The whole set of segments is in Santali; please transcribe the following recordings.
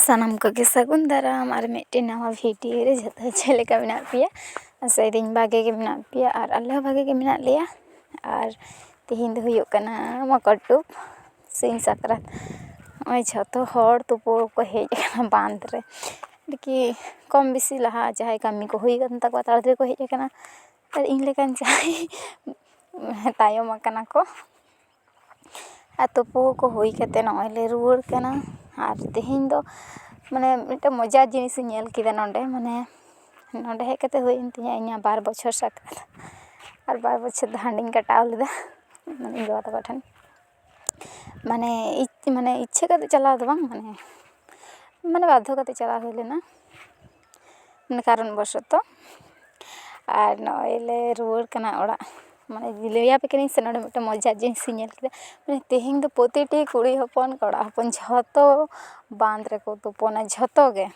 ᱥᱟᱱᱟᱢ ᱠᱚᱜᱮ ᱥᱟᱹᱜᱩᱱ ᱫᱟᱨᱟᱢ ᱟᱨ ᱢᱤᱫᱴᱮᱱ ᱱᱟᱣᱟ ᱵᱷᱤᱰᱭᱳ ᱨᱮ ᱡᱚᱛᱚ ᱪᱮᱫ ᱞᱮᱠᱟ ᱢᱮᱱᱟᱜ ᱯᱮᱭᱟ ᱟᱥᱟᱭ ᱫᱟᱹᱧ ᱵᱷᱟᱜᱮ ᱜᱮ ᱢᱮᱱᱟᱜ ᱯᱮᱭᱟ ᱟᱨ ᱟᱞᱮ ᱦᱚᱸ ᱵᱷᱟᱜᱮ ᱜᱮ ᱢᱮᱱᱟᱜ ᱞᱮᱭᱟ ᱟᱨ ᱛᱮᱦᱮᱧ ᱫᱚ ᱦᱩᱭᱩᱜ ᱠᱟᱱᱟ ᱢᱚᱠᱚᱨ ᱰᱩᱵ ᱥᱤᱧ ᱥᱟᱠᱨᱟᱛ ᱱᱚᱜᱼᱚᱭ ᱡᱷᱚᱛᱚ ᱦᱚᱲ ᱛᱩᱯᱩ ᱠᱚ ᱦᱮᱡ ᱠᱟᱱᱟ ᱵᱟᱸᱫᱽ ᱨᱮ ᱟᱨᱠᱤ ᱠᱚᱢ ᱵᱮᱥᱤ ᱞᱟᱦᱟ ᱡᱟᱦᱟᱸᱭ ᱠᱟᱹᱢᱤ ᱠᱚ ᱦᱩᱭ ᱠᱟᱱ ᱛᱟᱠᱚᱣᱟ ᱛᱟᱲᱟ ᱛᱟᱲᱤ ᱠᱚ ᱦᱮᱡ ᱠᱟᱱᱟ ᱟᱨ ᱤᱧ ᱞᱮᱠᱟᱱ ᱡᱟᱦᱟᱸᱭ ᱛᱟᱭᱚᱢ ᱠᱟᱱᱟ ᱠᱚ ᱟᱨ ᱛᱩᱯᱩ ᱠᱚ ᱦᱩᱭ ᱠᱟᱛᱮ ᱱᱚᱜᱼᱚᱭ ᱞᱮ ᱨᱩᱣᱟᱹᱲ ᱠᱟᱱᱟ ᱟᱨ ᱛᱮᱦᱮᱧ ᱫᱚ ᱢᱟᱱᱮ ᱢᱤᱫᱴᱮᱱ ᱢᱚᱡᱟ ᱡᱤᱱᱤᱥ ᱤᱧ ᱧᱮᱞ ᱠᱮᱫᱟ ᱱᱚᱰᱮ ᱢᱟᱱᱮ ᱱᱚᱰᱮ ᱦᱮᱡ ᱠᱟᱛᱮ ᱦᱩᱭᱮᱱ ᱛᱤᱧᱟᱹ ᱤᱧᱟᱹᱜ ᱵᱟᱨ ᱵᱚᱪᱷᱚᱨ ᱥᱟᱠᱨᱟᱛ ᱟᱨ ᱵᱟᱨ ᱵᱚᱪᱷᱚᱨ ᱫᱚ ᱦᱟᱺᱰᱤᱧ ᱠᱟᱴᱟᱣ ᱞᱮᱫᱟ ᱤᱧ ᱵᱟᱵᱟ ᱛᱟᱠᱚ ᱴᱷᱮᱱ ᱢᱟᱱᱮ ᱢᱟᱱᱮ ᱤᱪᱪᱷᱟᱹ ᱠᱟᱛᱮ ᱪᱟᱞᱟᱣ ᱫᱚ ᱵᱟᱝ ᱢᱟᱱᱮ ᱢᱟᱱᱮ ᱵᱟᱫᱽᱫᱷᱚ ᱠᱟᱛᱮ ᱪᱟᱞᱟᱣ ᱦᱩᱭ ᱞᱮᱱᱟ ᱢᱟᱱᱮ ᱠᱟᱨᱚᱱ ᱵᱚᱥᱚᱛᱚ ᱟᱨ ᱱᱚᱜᱼᱚᱭ ᱞᱮ ᱨᱩᱣᱟᱹᱲ ᱠᱟᱱᱟ ᱚᱲᱟᱜ ᱢᱟᱱᱮ ᱞᱟᱹᱭᱟᱯᱮ ᱠᱟᱹᱱᱟᱹᱧ ᱥᱮ ᱱᱚᱰᱮ ᱢᱤᱫᱴᱮᱱ ᱢᱚᱡᱟ ᱡᱤᱱᱤᱥ ᱤᱧ ᱧᱮᱞ ᱠᱮᱫᱟ ᱢᱟᱱᱮ ᱛᱮᱦᱮᱧ ᱫᱚ ᱯᱨᱚᱛᱤᱴᱤ ᱠᱩᱲᱤ ᱦᱚᱯᱚᱱ ᱠᱚᱲᱟ ᱦᱚᱯᱚᱱ ᱡᱷᱚᱛᱚ ᱵᱟᱸᱫᱽ ᱨᱮᱠᱚ ᱛᱩᱯᱩᱱᱟ ᱡᱷᱚᱛᱚ ᱜᱮ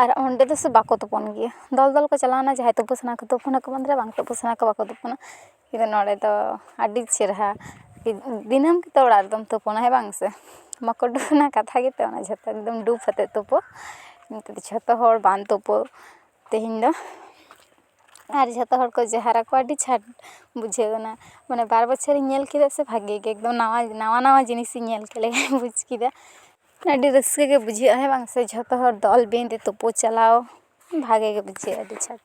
ᱟᱨ ᱚᱸᱰᱮ ᱫᱚᱥᱮ ᱵᱟᱠᱚ ᱛᱩᱯᱩᱱ ᱜᱮᱭᱟ ᱫᱚᱞ ᱫᱚᱞ ᱠᱚ ᱪᱟᱞᱟᱣᱱᱟ ᱡᱟᱦᱟᱸᱭ ᱛᱩᱯᱩ ᱥᱟᱱᱟ ᱠᱚ ᱛᱩᱯᱩᱱᱟᱠᱚ ᱵᱟᱸᱫᱽ ᱨᱮ ᱵᱟᱝ ᱛᱩᱯᱩ ᱥᱟᱱᱟ ᱠᱚᱣᱟ ᱵᱟᱠᱚ ᱛᱩᱯᱩᱱᱟ ᱠᱤᱱᱛᱩ ᱱᱚᱰᱮ ᱫᱚ ᱟᱹᱰᱤ ᱪᱮᱦᱨᱟ ᱫᱤᱱᱟᱹᱢ ᱜᱮᱛᱚ ᱚᱲᱟᱜ ᱨᱮᱫᱚᱢ ᱛᱩᱯᱩᱱᱟ ᱦᱮᱸ ᱵᱟᱝ ᱥᱮ ᱢᱚᱠᱚᱨ ᱰᱩᱵ ᱨᱮᱱᱟᱜ ᱠᱟᱛᱷᱟ ᱜᱮᱛᱚ ᱚᱱᱟ ᱡᱷᱚᱛᱚ ᱮᱠᱫᱚᱢ ᱰᱩᱵ ᱠᱟᱛᱮᱜ ᱛᱩᱯᱩ ᱠᱤᱱᱛᱩ ᱡᱷᱚᱛᱚ ᱦᱚᱲ ᱵᱟᱝ ᱛᱩᱯᱩ ᱛᱮᱦᱮᱧ ᱫᱚ ᱟᱨ ᱡᱷᱚᱛᱚ ᱦᱚᱲ ᱠᱚ ᱡᱚᱦᱟᱨ ᱟᱠᱚᱣᱟ ᱟᱹᱰᱤ ᱪᱷᱟᱴ ᱵᱩᱡᱷᱟᱹᱣ ᱠᱟᱱᱟ ᱢᱟᱱᱮ ᱵᱟᱨ ᱵᱚᱪᱷᱚᱨᱤᱧ ᱧᱮᱞ ᱠᱮᱫᱟ ᱥᱮ ᱵᱷᱟᱜᱮ ᱜᱮ ᱮᱠᱫᱚᱢ ᱱᱟᱣᱟ ᱱᱟᱣᱟ ᱱᱟᱣᱟ ᱡᱤᱱᱤᱥ ᱤᱧ ᱧᱮᱞ ᱠᱮᱫ ᱞᱮᱠᱟᱧ ᱵᱩᱡᱽ ᱠᱮᱫᱟ ᱟᱹᱰᱤ ᱨᱟᱹᱥᱠᱟᱹ ᱜᱮ ᱵᱩᱡᱷᱟᱹᱜᱼᱟ ᱦᱮᱸ ᱵᱟᱝ ᱥᱮ ᱡᱷᱚᱛᱚ ᱦᱚᱲ ᱫᱚᱞ ᱵᱮᱸᱫᱷᱮ ᱛᱩᱯᱩ ᱪᱟᱞᱟᱣ ᱵᱷᱟᱜᱮ ᱜᱮ ᱵᱩᱡᱷᱟᱹᱜᱼᱟ ᱟᱹᱰᱤ ᱪᱷᱟᱴ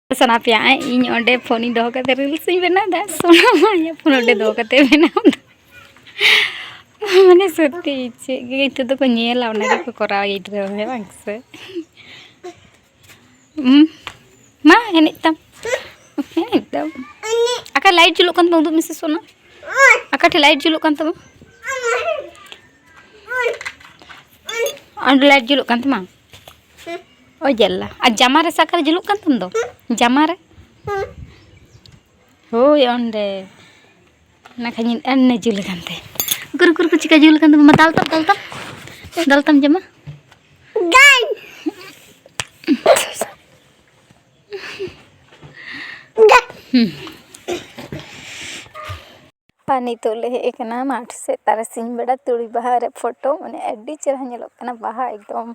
ᱥᱟᱱᱟ ᱯᱮᱭᱟ ᱤᱧ ᱚᱸᱰᱮ ᱯᱷᱳᱱᱤᱧ ᱫᱚᱦᱚ ᱠᱟᱛᱮ ᱨᱤᱞᱥ ᱤᱧ ᱵᱮᱱᱟᱣ ᱫᱟ ᱥᱚᱱᱟ ᱤᱧᱟᱹᱜ ᱯᱷᱳᱱ ᱚᱸᱰᱮ ᱫᱚᱦᱚ ᱠᱟᱛᱮ ᱵᱮᱱᱟᱣ ᱫᱟ ᱢᱟᱱᱮ ᱥᱚᱛᱛᱤ ᱪᱮᱫ ᱜᱮ ᱱᱤᱛᱚᱜ ᱫᱚᱠᱚ ᱧᱮᱞᱟ ᱚᱱᱟ ᱜᱮᱠᱚ ᱠᱚᱨᱟᱣᱟ ᱜᱤᱫᱽᱨᱟᱹ ᱦᱮᱸ ᱵᱟᱝ ᱥᱮ ᱢᱟ ᱮᱱᱮᱡ ᱛᱟᱢ ᱮᱱᱮᱡ ᱛᱟᱢ ᱟᱠᱟ ᱞᱟᱭᱤᱴ ᱡᱩᱞᱩᱜ ᱠᱟᱱ ᱛᱟᱢᱟ ᱩᱫᱩᱜ ᱢᱮᱥᱮ ᱥᱚᱱᱟ ᱟᱠᱟ ᱴᱷᱮᱱ ᱞᱟᱭᱤᱴ ᱡᱩᱞᱩᱜ ᱠᱟᱱ ᱛᱟᱢᱟ ᱚᱸᱰᱮ ᱞᱟᱭᱤᱴ ᱡᱩᱞᱩᱜ ᱠᱟᱱ ᱛᱟᱢᱟ ᱚ ᱡᱟᱞᱟ ᱟᱨ ᱡᱟᱢᱟ ᱨᱮ ᱥᱟᱠᱟᱨ ᱡᱩᱞᱩᱜ ᱠᱟᱱ ᱛᱟᱢ ᱫᱚ ᱡᱟᱢᱟ ᱨᱮ ᱦᱳᱭ ᱚᱸᱰᱮ ᱚᱱᱟ ᱠᱷᱟᱱ ᱟᱱᱱᱮ ᱡᱩᱞ ᱟᱠᱟᱱ ᱛᱮ ᱜᱩᱨᱩ ᱜᱩᱨᱩ ᱠᱚ ᱪᱤᱠᱟ ᱡᱩᱞ ᱟᱠᱟᱱ ᱛᱟᱢᱟ ᱢᱟ ᱫᱟᱞ ᱛᱟᱢ ᱫᱟᱞ ᱛᱟᱢ ᱫᱟᱞ ᱛᱟᱢ ᱡᱟᱢᱟ ᱜᱟᱱ ᱜᱟᱱ ᱟᱨ ᱱᱤᱛᱚᱜ ᱞᱮ ᱦᱮᱡ ᱠᱟᱱᱟ ᱢᱟᱴᱷ ᱥᱮᱡ ᱛᱟᱨᱟᱥᱤᱧ ᱵᱮᱲᱟ ᱛᱩᱲᱤ ᱵᱟᱦᱟ ᱨᱮ ᱯᱷᱳᱴᱳ ᱢᱟᱱᱮ ᱟᱹᱰᱤ ᱪᱮᱦᱨᱟ ᱧᱮᱞᱚᱜ ᱠᱟᱱᱟ ᱵᱟᱦᱟ ᱮᱠᱫᱚᱢ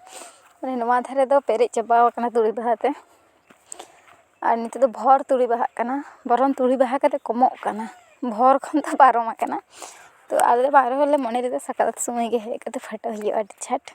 ᱢᱟᱱᱮ ᱱᱚᱣᱟ ᱫᱷᱟᱨᱮ ᱫᱚ ᱯᱮᱨᱮᱡ ᱪᱟᱵᱟ ᱠᱟᱱᱟ ᱛᱩᱲᱤ ᱵᱟᱦᱟ ᱛᱮ ᱟᱨ ᱱᱤᱛᱚᱜ ᱫᱚ ᱵᱷᱚᱨ ᱛᱩᱲᱤ ᱵᱟᱦᱟᱜ ᱠᱟᱱᱟ ᱵᱚᱨᱚᱱ ᱛᱩᱲᱤ ᱵᱟᱦᱟ ᱠᱟᱛᱮ ᱠᱚᱢᱚᱜ ᱠᱟᱱᱟ ᱵᱷᱚᱨ ᱠᱷᱚᱱ ᱫᱚ ᱯᱟᱨᱚᱢ ᱠᱟᱱᱟ ᱛᱚ ᱟᱞᱮ ᱵᱟᱨ ᱦᱚᱲ ᱞᱮ ᱢᱚᱱᱮ ᱞᱮᱫᱟ ᱥᱟᱠᱨᱟᱛ ᱥᱚᱢᱚᱭ ᱜᱮ ᱦᱮᱡ ᱠᱟᱛᱮ ᱯᱷᱳᱴᱳ ᱦᱩᱭᱩᱜᱼᱟ ᱟᱹᱰᱤ ᱪᱷᱟᱴ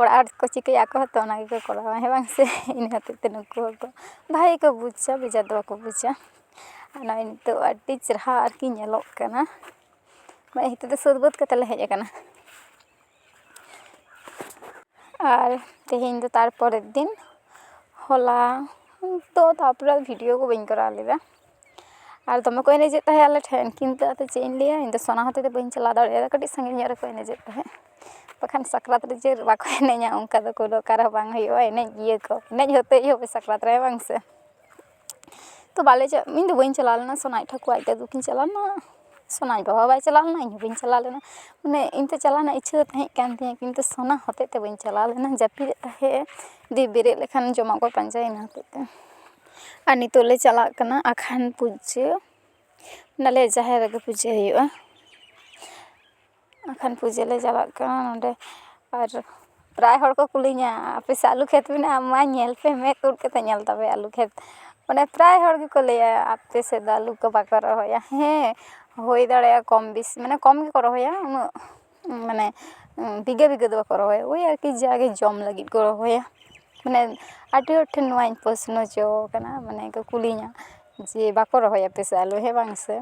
ᱚᱲᱟᱜ ᱦᱚᱲ ᱠᱚ ᱪᱤᱠᱟᱹᱭᱟ ᱟᱠᱚ ᱦᱚᱸᱛᱚ ᱚᱱᱟ ᱜᱮᱠᱚ ᱠᱚᱨᱟᱣᱟ ᱦᱮᱸ ᱵᱟᱝ ᱥᱮ ᱤᱱᱟᱹ ᱦᱚᱛᱮᱡ ᱛᱮ ᱱᱩᱠᱩ ᱦᱚᱸᱠᱚ ᱵᱷᱟᱜᱮ ᱜᱮᱠᱚ ᱵᱩᱡᱟ ᱵᱮᱡᱟᱨ ᱫᱚ ᱵᱟᱠᱚ ᱵᱩᱡᱟ ᱟᱨ ᱱᱚᱜᱼᱚᱭ ᱱᱤᱛᱚᱜ ᱟᱹᱰᱤ ᱪᱮᱦᱨᱟ ᱟᱨᱠᱤ ᱧᱮᱞᱚᱜ ᱠᱟᱱᱟ ᱱᱚᱜᱼᱚᱭ ᱱᱤᱛᱚᱜ ᱫᱚ ᱥᱟᱹᱛ ᱵᱟᱹᱛ ᱠᱟᱛᱮᱫ ᱞᱮ ᱦᱮᱡ ᱠᱟᱱᱟ ᱟᱨ ᱛᱮᱦᱮᱧ ᱫᱚ ᱛᱟᱨᱯᱚᱨᱮᱨ ᱫᱤᱱ ᱦᱚᱞᱟ ᱛᱚ ᱛᱟᱨᱯᱚᱨᱮ ᱵᱷᱤᱰᱤᱭᱳ ᱠᱚ ᱵᱟᱹᱧ ᱠᱚᱨᱟᱣ ᱞᱮᱫᱟ ᱟᱨ ᱫᱚᱢᱮ ᱠᱚ ᱮᱱᱮᱡᱮᱜ ᱛᱟᱦᱮᱸᱜ ᱟᱞᱮ ᱴᱷᱮᱱ ᱠᱤᱱᱛᱩ ᱟᱫᱚ ᱪᱮᱫ ᱤᱧ ᱞᱟᱹᱭᱟ ᱤᱧ ᱫᱚ ᱥᱟᱱᱟ ᱦᱚᱛᱮᱜ ᱛᱮ ᱵᱟᱹᱧ ᱪᱟᱞᱟᱣ ᱫᱟᱲᱮᱭᱟᱫᱟ ᱠᱟᱹᱴᱤᱡ ᱥᱟᱺᱜᱤᱧ ᱧᱚᱜ ᱨᱮᱠᱚ ᱮᱱᱮᱡᱮᱜ ᱛᱟᱦᱮᱸᱜ ᱵᱟᱠᱷᱟᱱ ᱥᱟᱠᱨᱟᱛ ᱨᱮ ᱡᱮ ᱵᱟᱠᱚ ᱮᱱᱮᱡᱟ ᱚᱱᱠᱟ ᱫᱚ ᱠᱳᱱᱳ ᱚᱠᱟ ᱨᱮᱦᱚᱸ ᱵᱟᱝ ᱦᱩᱭᱩᱜᱼᱟ ᱮᱱᱮᱡ ᱜᱮᱭᱟ ᱠᱚ ᱮᱱᱮᱡ ᱦᱚᱛᱮᱜ ᱜᱮ ᱦᱩᱭᱩᱜᱼᱟ ᱥᱟᱠᱨᱟᱛ ᱨᱮ ᱵᱟᱝ ᱥᱮ ᱛᱚ ᱵᱟᱞᱮ ᱪᱟᱜ ᱤᱧ ᱫᱚ ᱵᱟᱹᱧ ᱪᱟᱞᱟᱣ ᱞᱮᱱᱟ ᱥᱚᱱᱟᱭᱤᱡ ᱴᱷᱟᱹᱠᱩᱨ ᱟᱡ ᱫᱟᱫᱩ ᱠᱤᱱ ᱪᱟᱞᱟᱣ ᱞᱮᱱᱟ ᱥᱚᱱᱟᱭ ᱵᱟᱵᱟ ᱦᱚᱸ ᱵᱟᱭ ᱪᱟᱞᱟᱣ ᱞᱮᱱᱟ ᱤᱧ ᱦᱚᱸ ᱵᱟᱹᱧ ᱪᱟᱞᱟᱣ ᱞᱮᱱᱟ ᱢᱟᱱᱮ ᱤᱧ ᱫᱚ ᱪᱟᱞᱟᱣ ᱨᱮᱱᱟᱜ ᱤᱪᱪᱷᱟᱹ ᱫᱚ ᱛᱟᱦᱮᱸᱜ ᱠᱟᱱ ᱛᱤᱧᱟᱹ ᱠᱤᱱᱛᱩ ᱥᱚᱱᱟ ᱦᱚᱛᱮᱜ ᱛᱮ ᱵᱟᱹᱧ ᱪᱟᱞᱟᱣ ᱞᱮᱱᱟ ᱡᱟᱹᱯᱤᱫᱮᱜ ᱛᱟᱦᱮᱸᱜ ᱮ ᱫᱤᱭᱮ ᱵᱮᱨᱮᱫ ᱞᱮᱠᱷᱟᱱ ᱡᱚᱢᱟᱜ ᱠᱚᱭ ᱯᱟᱸᱡᱟᱭᱟ ᱤᱱᱟᱹ ᱦᱚᱛᱮᱜ ᱛᱮ ᱟᱨ ᱱᱤᱛᱚᱜ ᱞᱮ ᱪᱟᱞᱟᱜ ᱠᱟᱱᱟ ᱟᱠᱷᱟᱱ ᱯᱩᱡᱟᱹ ᱚᱱᱟᱞᱮ ᱡᱟᱦᱮᱨ ᱨᱮᱜᱮ ᱯᱩᱡᱟᱹ ᱦᱩᱭᱩᱜᱼᱟ ᱟᱠᱷᱟᱱ ᱯᱩᱡᱟᱹ ᱞᱮ ᱪᱟᱞᱟᱜ ᱠᱟᱱᱟ ᱱᱚᱰᱮ ᱟᱨ ᱯᱨᱟᱭ ᱦᱚᱲ ᱠᱚ ᱠᱩᱞᱤᱧᱟ ᱟᱯᱮ ᱥᱮᱫ ᱟᱹᱞᱩ ᱠᱷᱮᱛ ᱢᱮᱱᱟᱜᱼᱟ ᱢᱟ ᱧᱮᱞ ᱯᱮ ᱢᱮᱫ ᱩᱨ ᱠᱟᱛᱮ ᱧᱮᱞ ᱛᱟᱯᱮ ᱟᱹᱞᱩ ᱠᱷᱮᱛ ᱢᱟᱱᱮ ᱯᱨᱟᱭ ᱦᱚᱲ ᱜᱮᱠᱚ ᱞᱟᱹᱭᱟ ᱟᱯᱮ ᱥᱮᱫ ᱫᱚ ᱟᱹᱞᱩ ᱠᱚ ᱵᱟᱠᱚ ᱨᱚᱦᱚᱭᱟ ᱦᱮᱸ ᱦᱩᱭ ᱫᱟᱲᱮᱭᱟᱜᱼᱟ ᱠᱚᱢ ᱵᱮᱥᱤ ᱢᱟᱱᱮ ᱠᱚᱢ ᱜᱮᱠᱚ ᱨᱚᱦᱚᱭᱟ ᱩᱱᱟᱹᱜ ᱢᱟᱱᱮ ᱵᱤᱜᱷᱟᱹ ᱵᱤᱜᱷᱟᱹ ᱫᱚ ᱵᱟᱠᱚ ᱨᱚᱦᱚᱭᱟ ᱳᱭ ᱟᱨᱠᱤ ᱡᱟᱜᱮ ᱡᱚᱢ ᱞᱟᱹᱜᱤᱫ ᱠᱚ ᱨᱚᱦᱚᱭᱟ ᱢᱟᱱᱮ ᱟᱹᱰᱤ ᱦᱚᱲ ᱴᱷᱮᱱ ᱱᱚᱣᱟᱧ ᱯᱚᱥᱱᱚ ᱦᱚᱪᱚ ᱠᱟᱱᱟ ᱢᱟᱱᱮ ᱠᱚ ᱠᱩᱞᱤᱧᱟ ᱡᱮ ᱵᱟᱠᱚ ᱨᱚᱦᱚᱭᱟ ᱟᱯᱮ ᱥᱮᱫ ᱟᱞᱩ ᱦᱮᱸ ᱵᱟᱝ ᱥᱮ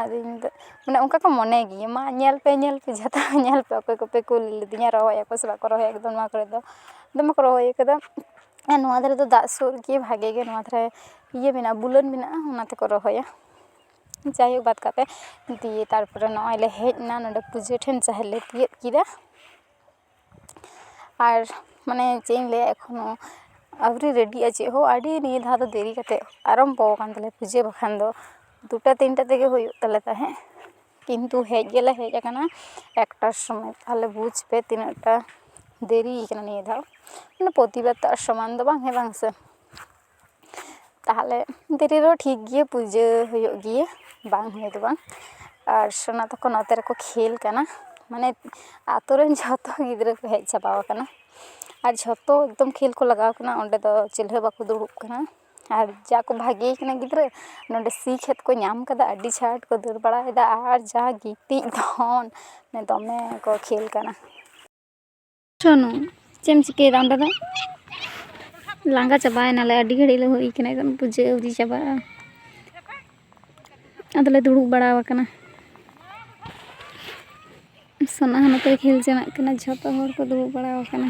ᱟᱫᱚ ᱤᱧ ᱫᱚ ᱢᱟᱱᱮ ᱚᱱᱠᱟ ᱠᱚ ᱢᱚᱱᱮ ᱜᱮᱭᱟ ᱢᱟ ᱧᱮᱞ ᱯᱮ ᱧᱮᱞ ᱯᱮ ᱡᱷᱚᱛᱚ ᱧᱮᱞ ᱯᱮ ᱚᱠᱚᱭ ᱠᱚᱯᱮ ᱠᱩᱞ ᱞᱤᱫᱤᱧᱟ ᱨᱚᱦᱚᱭ ᱟᱠᱚ ᱥᱮ ᱵᱟᱠᱚ ᱨᱚᱦᱚᱭᱟ ᱮᱠᱫᱚᱢ ᱱᱚᱣᱟ ᱠᱚᱨᱮ ᱫᱚ ᱫᱚᱢᱮ ᱠᱚ ᱨᱚᱦᱚᱭ ᱠᱟᱫᱟ ᱟᱨ ᱱᱚᱣᱟ ᱫᱷᱟᱨᱮ ᱫᱚ ᱫᱟᱜ ᱥᱩᱨ ᱜᱮ ᱵᱷᱟᱜᱮ ᱜᱮ ᱱᱚᱣᱟ ᱫᱷᱟᱨᱮ ᱤᱭᱟᱹ ᱢᱮᱱᱟᱜᱼᱟ ᱵᱩᱞᱟᱹᱱ ᱢᱮᱱᱟᱜᱼᱟ ᱚᱱᱟ ᱛᱮᱠᱚ ᱨᱚᱦᱚᱭᱟ ᱡᱟᱭᱦᱳᱠ ᱵᱟᱫ ᱠᱟᱛᱮ ᱫᱤᱭᱮ ᱛᱟᱨᱯᱚᱨᱮ ᱱᱚᱜᱼᱚᱭ ᱞᱮ ᱦᱮᱡ ᱮᱱᱟ ᱱᱚᱰᱮ ᱯᱩᱡᱟᱹ ᱴᱷᱮᱱ ᱡᱟᱦᱮᱨ ᱞᱮ ᱛᱤᱭᱳᱜ ᱠᱮᱫᱟ ᱟᱨ ᱢᱟᱱᱮ ᱪᱮᱫ ᱤᱧ ᱞᱟᱹᱭᱟ ᱮᱠᱷᱚᱱᱳ ᱟᱹᱣᱨᱤ ᱨᱮᱰᱤᱜᱼᱟ ᱪᱮᱫ ᱦᱚᱸ ᱟᱹᱰᱤ ᱱᱤᱭᱟᱹ ᱫᱷᱟᱣ ᱫᱚ ᱫᱮᱨᱤ ᱠᱟᱛᱮ ᱟᱨᱟᱢᱵᱚ ᱠᱟᱱ ᱛᱟᱞᱮᱭᱟ ᱯᱩᱡᱟᱹ ᱵᱟᱠᱷᱟᱱ ᱫᱚ ᱫᱩᱴᱟ ᱛᱤᱱᱴᱟ ᱛᱮᱜᱮ ᱦᱩᱭᱩᱜ ᱛᱟᱞᱮ ᱛᱟᱦᱮᱸᱜ ᱠᱤᱱᱛᱩ ᱦᱮᱡ ᱜᱮᱞᱮ ᱦᱮᱡ ᱠᱟᱱᱟ ᱮᱠᱴᱟ ᱥᱚᱢᱚᱭ ᱛᱟᱦᱚᱞᱮ ᱵᱩᱡᱽ ᱯᱮ ᱛᱤᱱᱟᱹᱜ ᱴᱟ ᱫᱮᱨᱤᱭ ᱠᱟᱱᱟ ᱱᱤᱭᱟᱹ ᱫᱷᱟᱣ ᱢᱟᱱᱮ ᱯᱨᱚᱛᱤᱵᱟᱨ ᱛᱚ ᱟᱨ ᱥᱚᱢᱟᱱ ᱫᱚ ᱵᱟᱝ ᱦᱮᱸ ᱵᱟᱝ ᱥᱮ ᱛᱟᱦᱚᱞᱮ ᱫᱮᱨᱤ ᱨᱮᱦᱚᱸ ᱴᱷᱤᱠ ᱜᱮᱭᱟ ᱯᱩᱡᱟᱹ ᱦᱩᱭᱩᱜ ᱜᱮᱭᱟ ᱵᱟᱝ ᱦᱩᱭ ᱫᱚ ᱵᱟᱝ ᱟᱨ ᱥᱳᱱᱟ ᱛᱟᱠᱚ ᱱᱚᱛᱮ ᱨᱮᱠᱚ ᱠᱷᱮᱞ ᱠᱟᱱᱟ ᱢᱟᱱᱮ ᱟᱛᱳ ᱨᱮᱱ ᱡᱷᱚᱛᱚ ᱜᱤᱫᱽᱨᱟᱹ ᱠᱚ ᱦᱮᱡ ᱪᱟᱵᱟᱣ ᱠᱟᱱᱟ ᱟᱨ ᱡᱷᱚᱛᱚ ᱮᱠᱫᱚᱢ ᱠᱷᱮᱞ ᱠᱚ ᱞᱟᱜᱟᱣ ᱠᱟᱱᱟ ᱚᱸᱰᱮ ᱫᱚ ᱪᱤᱞᱤ ᱦᱚᱸ ᱵᱟᱠᱚ ᱫᱩᱲᱩᱵ ᱠᱟᱱᱟ ᱟᱨ ᱡᱟ ᱠᱚ ᱵᱷᱟᱜᱮ ᱠᱟᱱᱟ ᱜᱤᱫᱽᱨᱟᱹ ᱱᱚᱰᱮ ᱥᱤ ᱠᱷᱮᱛ ᱠᱚ ᱧᱟᱢ ᱠᱟᱫᱟ ᱟᱹᱰᱤ ᱪᱷᱟᱴ ᱠᱚ ᱫᱟᱹᱲ ᱵᱟᱲᱟᱭᱮᱫᱟ ᱟᱨ ᱡᱟ ᱜᱤᱛᱤᱡ ᱫᱷᱚᱱ ᱫᱚᱢᱮ ᱠᱚ ᱠᱷᱮᱞ ᱠᱟᱱᱟ ᱥᱚᱱᱩ ᱪᱮᱫ ᱮᱢ ᱪᱤᱠᱟᱹᱭᱮᱫᱟ ᱚᱸᱰᱮ ᱫᱚ ᱞᱟᱸᱜᱟ ᱪᱟᱵᱟᱭᱮᱱᱟᱞᱮ ᱟᱹᱰᱤ ᱜᱷᱟᱹᱲᱤᱡ ᱞᱮ ᱦᱩᱭ ᱠᱟᱱᱟ ᱮᱠᱫᱚᱢ ᱯᱩᱡᱟᱹ ᱟᱹᱣᱨᱤ ᱪᱟᱵᱟᱜᱼᱟ ᱟᱫᱚᱞᱮ ᱫᱩᱲᱩᱵ ᱵᱟᱲᱟ ᱟᱠᱟᱱᱟ ᱥᱚᱱᱟ ᱦᱚᱸ ᱱᱚᱛᱮ ᱠᱷᱮᱞ ᱡᱚᱱᱟᱜ ᱠᱟᱱᱟ ᱡᱷᱚᱛᱚ ᱦᱚᱲ ᱠᱚ ᱫᱩᱲᱩᱵ ᱵᱟᱲᱟ ᱟᱠᱟᱱᱟ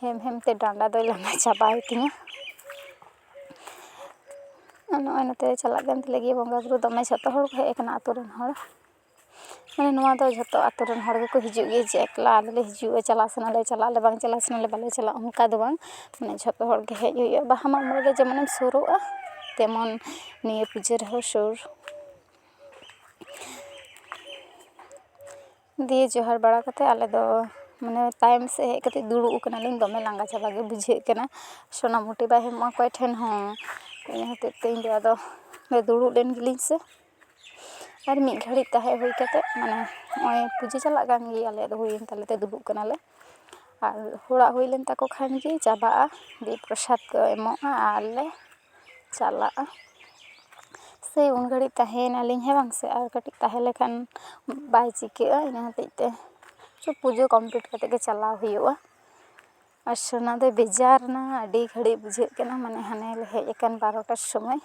ᱦᱮᱢ ᱦᱮᱢ ᱛᱮ ᱰᱟᱸᱰᱟ ᱫᱚᱭ ᱞᱟᱸᱜᱟ ᱪᱟᱵᱟᱭ ᱛᱤᱧᱟᱹ ᱟᱨ ᱱᱚᱜᱼᱚᱭ ᱱᱚᱛᱮ ᱪᱟᱞᱟᱜ ᱠᱟᱱ ᱛᱟᱞᱮ ᱜᱮᱭᱟ ᱵᱚᱸᱜᱟ ᱵᱳᱨᱳ ᱫᱚᱢᱮ ᱡᱷᱚᱛᱚ ᱦᱚᱲ ᱠᱚ ᱦᱮᱡ ᱠᱟᱱᱟ ᱟᱛᱳ ᱨᱮᱱ ᱦᱚᱲ ᱢᱟᱱᱮ ᱱᱚᱣᱟ ᱫᱚ ᱡᱷᱚᱛᱚ ᱟᱛᱳ ᱨᱮᱱ ᱦᱚᱲ ᱜᱮᱠᱚ ᱦᱤᱡᱩᱜ ᱜᱮᱭᱟ ᱡᱮ ᱮᱠᱞᱟ ᱟᱞᱮ ᱞᱮ ᱦᱤᱡᱩᱜᱼᱟ ᱪᱟᱞᱟᱜ ᱥᱟᱱᱟᱞᱮ ᱪᱟᱞᱟᱜ ᱟᱞᱮ ᱵᱟᱝ ᱪᱟᱞᱟᱜ ᱥᱟᱱᱟᱞᱮ ᱵᱟᱞᱮ ᱪᱟᱞᱟᱜᱼᱟ ᱚᱱᱠᱟ ᱫᱚ ᱵᱟᱝ ᱢᱟᱱᱮ ᱡᱷᱚᱛᱚ ᱦᱚᱲ ᱜᱮ ᱦᱮᱡ ᱦᱩᱭᱩᱜᱼᱟ ᱵᱟᱦᱟ ᱢᱟᱜ ᱢᱚᱬᱮ ᱨᱮ ᱡᱮᱢᱚᱱᱮᱢ ᱥᱩᱨᱩᱜᱼᱟ ᱛᱮᱢᱚᱱ ᱱᱤᱭᱟᱹ ᱯᱩᱡᱟᱹ ᱨᱮᱦᱚᱸ ᱥᱩᱨ ᱫᱤᱭᱮ ᱡᱚᱦᱟᱨ ᱵᱟᱲᱟ ᱠᱟᱛᱮ ᱟᱞᱮ ᱫᱚ ᱢᱟᱱᱮ ᱛᱟᱭᱚᱢ ᱥᱮᱡ ᱦᱮᱡ ᱠᱟᱛᱮ ᱫᱩᱲᱩᱵ ᱠᱟᱱᱟᱞᱤᱧ ᱫᱚᱢᱮ ᱞᱟᱸᱜᱟ ᱪᱟᱵᱟ ᱜᱮ ᱵᱩᱡᱷᱟᱹᱜ ᱠᱟᱱᱟ ᱥᱚᱱᱟᱢᱩᱱᱤ ᱵᱟᱭ ᱦᱮᱡ ᱞᱮᱱᱟ ᱚᱠᱚᱭ ᱴᱷᱮᱱ ᱦᱚᱸ ᱤᱱᱟᱹ ᱦᱚᱛᱮᱡ ᱛᱮ ᱤᱧ ᱫᱚ ᱟᱫᱚ ᱫᱩᱲᱩᱵ ᱞᱮᱱ ᱜᱮᱞᱤᱧ ᱥᱮ ᱟᱨ ᱢᱤᱫ ᱜᱷᱟᱹᱲᱤᱡ ᱛᱟᱦᱮᱸ ᱦᱩᱭ ᱠᱟᱛᱮ ᱢᱟᱱᱮ ᱱᱚᱜᱼᱚᱭ ᱯᱩᱡᱟᱹ ᱪᱟᱞᱟᱜ ᱠᱟᱱ ᱜᱮᱭᱟ ᱟᱞᱮᱭᱟᱜ ᱫᱚ ᱦᱩᱭᱮᱱ ᱛᱟᱞᱮ ᱛᱮ ᱫᱩᱲᱩᱵ ᱠᱟᱱᱟᱞᱮ ᱟᱨ ᱦᱚᱲᱟᱜ ᱦᱩᱭ ᱞᱮᱱ ᱛᱟᱠᱚ ᱠᱷᱟᱱ ᱜᱮ ᱪᱟᱵᱟᱜᱼᱟ ᱫᱤᱭᱮ ᱯᱨᱚᱥᱟᱫ ᱠᱚ ᱮᱢᱚᱜᱼᱟ ᱟᱨ ᱞᱮ ᱪᱟᱞᱟᱜᱼᱟ ᱥᱮ ᱩᱱ ᱜᱷᱟᱹᱲᱤᱡ ᱛᱟᱦᱮᱭᱮᱱᱟᱞᱤᱧ ᱦᱮᱸ ᱵᱟᱝ ᱥᱮ ᱟᱨ ᱠᱟᱹᱴᱤᱡ ᱛᱟᱦᱮᱸ ᱞᱮᱠᱷᱟᱱ ᱵᱟᱭ ᱪᱤᱠᱟᱹᱜᱼᱟ ᱤᱱᱟᱹ ᱦᱚᱛᱮᱡ ᱛᱮ ᱥᱮ ᱯᱩᱡᱟᱹ ᱠᱚᱢᱯᱞᱤᱴ ᱠᱟᱛᱮ ᱜᱮ ᱪᱟᱞᱟᱣ ᱦᱩᱭᱩᱜᱼᱟ ᱟᱨ ᱥᱳᱱᱟ ᱫᱚᱭ ᱵᱮᱡᱟᱨ ᱮᱱᱟ ᱟᱹᱰᱤ ᱜᱷᱟᱹᱲᱤᱡ ᱵᱩᱡᱷᱟᱹᱜ ᱠᱟᱱᱟ ᱢᱟᱱᱮ ᱦᱟᱱᱮ ᱞᱮ ᱦᱮᱡ ᱟᱠᱟᱱ ᱵᱟᱨᱚᱴᱟ ᱥᱚᱢᱚᱭ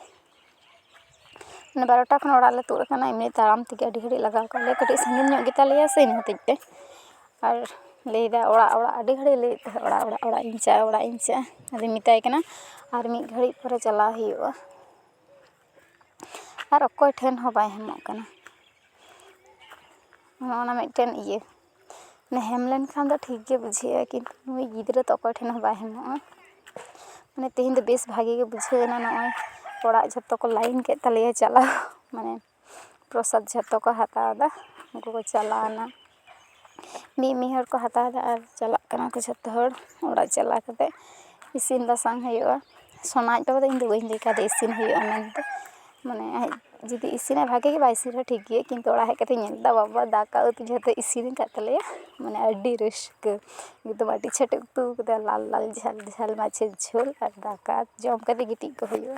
ᱢᱟᱱᱮ ᱵᱟᱨᱚᱴᱟ ᱠᱷᱚᱱ ᱚᱲᱟᱜ ᱞᱮ ᱛᱩᱫ ᱟᱠᱟᱱᱟ ᱮᱢᱱᱤ ᱛᱟᱲᱟᱢ ᱛᱮᱜᱮ ᱟᱹᱰᱤ ᱜᱷᱟᱹᱲᱤᱡ ᱞᱟᱜᱟᱣ ᱠᱟᱜ ᱞᱮᱭᱟ ᱠᱟᱹᱴᱤᱡ ᱥᱟᱺᱜᱤᱧ ᱧᱚᱜ ᱜᱮᱛᱟ ᱞᱮᱭᱟ ᱥᱮ ᱤᱱᱟᱹ ᱦᱚᱛᱮᱡ ᱛᱮ ᱟᱨ ᱞᱟᱹᱭᱫᱟᱭ ᱚᱲᱟᱜ ᱚᱲᱟᱜ ᱟᱹᱰᱤ ᱜᱷᱟᱹᱲᱤᱡ ᱞᱟᱹᱭᱮᱫ ᱛᱟᱦᱮᱸᱜ ᱚᱲᱟᱜ ᱚᱲᱟᱜ ᱚᱲᱟᱜ ᱤᱧ ᱪᱟᱜᱼᱟ ᱚᱲᱟᱜ ᱤᱧ ᱪᱟᱜᱼᱟ ᱟᱫᱚᱧ ᱢᱮᱛᱟᱭ ᱠᱟᱱᱟ ᱟᱨ ᱢᱤᱫ ᱜᱷᱟᱹᱲᱤᱡ ᱯᱚᱨᱮ ᱪᱟᱞᱟᱣ ᱦᱩᱭᱩᱜᱼᱟ ᱟᱨ ᱚᱠᱚᱭ ᱴᱷᱮᱱ ᱦᱚᱸ ᱵᱟᱭ ᱧᱟᱢᱚᱜ ᱠᱟᱱᱟ ᱱᱚᱜᱼᱚ ᱱᱟ ᱢᱤᱫᱴᱮᱱ ᱤᱭᱟᱹ ᱢᱟᱱᱮ ᱦᱮᱢ ᱞᱮᱱᱠᱷᱟᱱ ᱫᱚ ᱴᱷᱤᱠ ᱜᱮ ᱵᱩᱡᱷᱟᱹᱜᱼᱟ ᱠᱤᱱᱛᱩ ᱱᱩᱭ ᱜᱤᱫᱽᱨᱟᱹ ᱫᱚ ᱚᱠᱚᱭ ᱴᱷᱮᱱ ᱦᱚᱸ ᱵᱟᱭ ᱦᱮᱢᱚᱜᱼᱟ ᱢᱟᱱᱮ ᱛᱮᱦᱮᱧ ᱫᱚ ᱵᱮᱥ ᱵᱷᱟᱜᱮ ᱜᱮ ᱵᱩᱡᱷᱟᱹᱣ ᱮᱱᱟ ᱱᱚᱜᱼᱚᱭ ᱚᱲᱟᱜ ᱡᱷᱚᱛᱚ ᱠᱚ ᱞᱟᱭᱤᱱ ᱠᱮᱜ ᱛᱟᱞᱮᱭᱟ ᱪᱟᱞᱟᱣ ᱢᱟᱱᱮ ᱯᱨᱚᱥᱟᱫ ᱡᱷᱚᱛᱚ ᱠᱚ ᱦᱟᱛᱟᱣᱫᱟ ᱩᱱᱠᱩ ᱠᱚ ᱪᱟᱞᱟᱣᱱᱟ ᱢᱤᱫ ᱢᱤᱫ ᱦᱚᱲ ᱠᱚ ᱦᱟᱛᱟᱣᱫᱟ ᱟᱨ ᱪᱟᱞᱟᱜ ᱠᱟᱱᱟ ᱠᱚ ᱡᱷᱚᱛᱚ ᱦᱚᱲ ᱚᱲᱟᱜ ᱪᱟᱞᱟᱣ ᱠᱟᱛᱮ ᱤᱥᱤᱱ ᱵᱟᱥᱟᱝ ᱦᱩᱭᱩᱜᱼᱟ ᱥᱳᱱᱟ ᱟᱡ ᱵᱟᱵᱟ ᱫᱚ ᱤᱧ ᱫᱚ ᱵᱟᱹᱧ ᱞᱟᱹᱭ ᱠᱟᱣᱫᱮᱭᱟ ᱤᱥᱤᱱ ᱦᱩᱭᱩᱜᱼᱟ ᱢᱮᱱᱛᱮ ᱢᱟᱱᱮ ᱟᱡ ᱡᱩᱫᱤ ᱤᱥᱤᱱᱟᱭ ᱵᱷᱟᱜᱮ ᱜᱮ ᱵᱟᱭ ᱤᱥᱤᱱ ᱨᱮᱦᱚᱸ ᱴᱷᱤᱠ ᱜᱮᱭᱟ ᱠᱤᱱᱛᱩ ᱚᱲᱟᱜ ᱦᱮᱡ ᱠᱟᱛᱮᱧ ᱧᱮᱞ ᱠᱮᱫᱟ ᱵᱟᱵᱟ ᱫᱟᱠᱟ ᱩᱛᱩ ᱡᱷᱚᱛᱚ ᱤᱥᱤᱱ ᱟᱠᱟᱫ ᱛᱟᱞᱮᱭᱟ ᱢᱟᱱᱮ ᱟᱹᱰᱤ ᱨᱟᱹᱥᱠᱟᱹ ᱮᱠᱫᱚᱢ ᱟᱹᱰᱤ ᱪᱷᱮᱴᱮ ᱩᱛᱩ ᱠᱟᱫᱟ ᱞᱟᱞ ᱞᱟᱞ ᱡᱷᱟᱞ ᱡᱷᱟᱞ ᱢᱟᱪᱷᱟ ᱡᱷᱳᱞ ᱟᱨ ᱫᱟᱠᱟ ᱡᱚᱢ ᱠᱟᱛᱮ ᱜᱤᱛᱤᱡ ᱠᱚᱜ ᱦᱩᱭᱩᱜᱼᱟ